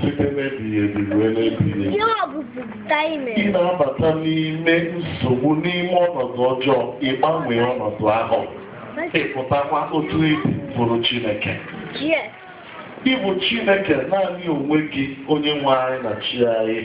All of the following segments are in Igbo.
site n'ebighị ebi ruo n'ebighị ebi. Ị na-abata n'ime nsogbu n'ime ọnọdụ ọjọọ ị gbanwee ọnọdụ ahụ ị pụtakwa otu ị dị bụrụ Chineke ị bụ Chineke naanị onwe gị onye nwe anyị na chi anyị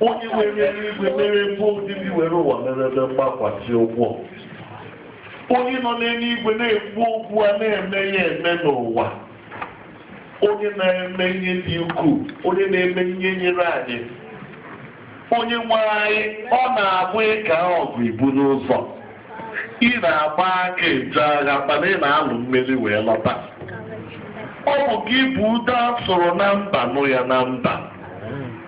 onye were eluigwe mere ebe obibi were ụwa mere ebe mgbakwasị ụkwụ onye nọ n'eluigwe na-ekwu okwu a na-eme ya eme n'ụwa onye na-eme ihe dị ukwuu onye na-eme ihe nyere anyị onye nwe anyị ọ na-abụ ị kaa ọgụ i buru ụzọ ị na-agba aka eje agha mana ị na-alụ mmeri wee lọta ọ bụ gị bụ ude a sụrụ na mba nụ ya na mba